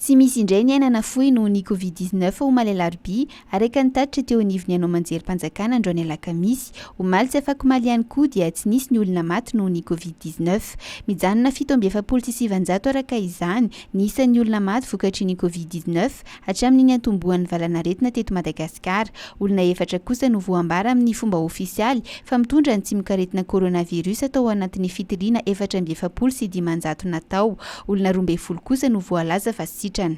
Tsy misy indray ny aina nafoy noho ny Covid 19 omaly alarobia, araka ny tatitra teo anivon'ny anao manjerim-panjakana androany alakamisy. Omaly sy afakomaly ihany koa dia tsy nisy ny olona maty noho ny Covid 19. Mijanona fito amby efapolo sy sivinjato araka izany ny isan'ny olona maty vokatry ny Covid 19 Hatramin'ny niantombohan'ny valanaretina teto Madagasikara, olona efatra kosa no voambara amin'ny fomba ofisialy fa mitondra ny tsimokaretina coronavirus tao anatin'ny fitiliana efatra amby efapolo sy dimanjato natao. Olona roa ambin'ny folo kosa no voalaza fa sitrana.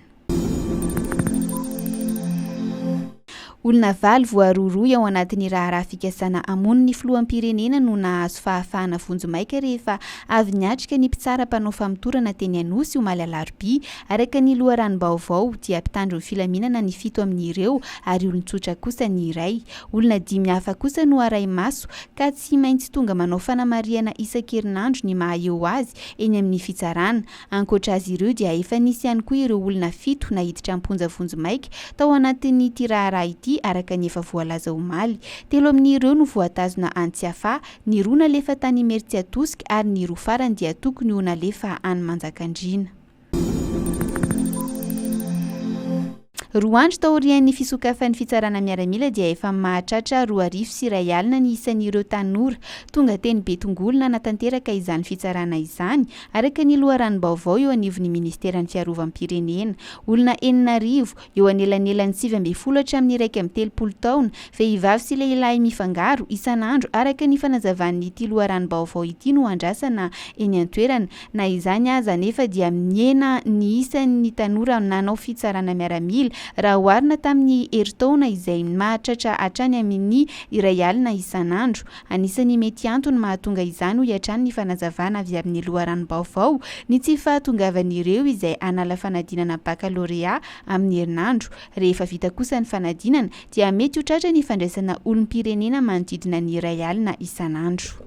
Olona valo voarohirohy ao anatin'ny raharaha fikasana hamono ny filoham-pirenena no nahazo fahafahana vonjimaika rehefa avy niatrika ny mpitsara mpanao famotorana teny Anosy omaly alarobia. Araka ny loharanom-baovao dia mpitandro ny filaminana ny fito amin'ireo ary olon-tsotra kosa ny iray. Olona dimy hafa kosa no arahi-maso ka tsy maintsy tonga manao fanamarihana isan-kerinandro ny maha-eo azy eny amin'ny fitsarana. Ankoatra azy ireo dia efa nisy ihany koa ireo olona fito naiditra am-ponja vonjimaika tao anatin'ity raharaha ity araka ny efa voalaza omaly. Telo amin'ireo no voatazona any Tsiafahy, ny roa nalefa tany Imerintsiatosika ary ny roa farany dia tokony ho nalefa any Manjakandriana. Roa andro taorian'ny fisokafan'ny fitsarana miaramila dia efa mahatratra roa arivo sy iray alina ny isan'ireo tanora tonga teny Betongolo nanatanteraka izany fitsarana izany, araka ny loharanom-baovao eo anivon'ny Ministeran'ny Fiarovam-pirenena. Olona enina arivo, eo anelanelan'ny sivy ambin'ny folo hatramin'ny iraika amby telopolo taona, vehivavy sy lehilahy mifangaro, isan'andro, araka ny fanazavan'ity loharanom-baovao ity no andrasana eny an-toerana, Na izany aza anefa dia mihena ny isan'ny tanora nanao fitsarana miaramila raha oharina tamin'ny herintaona izay mahatratra hatrany amin'ny iray alina isan'andro. Anisan'ny mety antony mahatonga izany hoy hatrany ny fanazavana avy amin'ny loharanom-baovao ny tsy fahatongavan'ireo izay hanala fanadinana bakalorea amin'ny herinandro. Rehefa vita kosa ny fanadinana dia mety ho tratra ny fandraisana olom-pirenena manodidina ny iray alina isan'andro.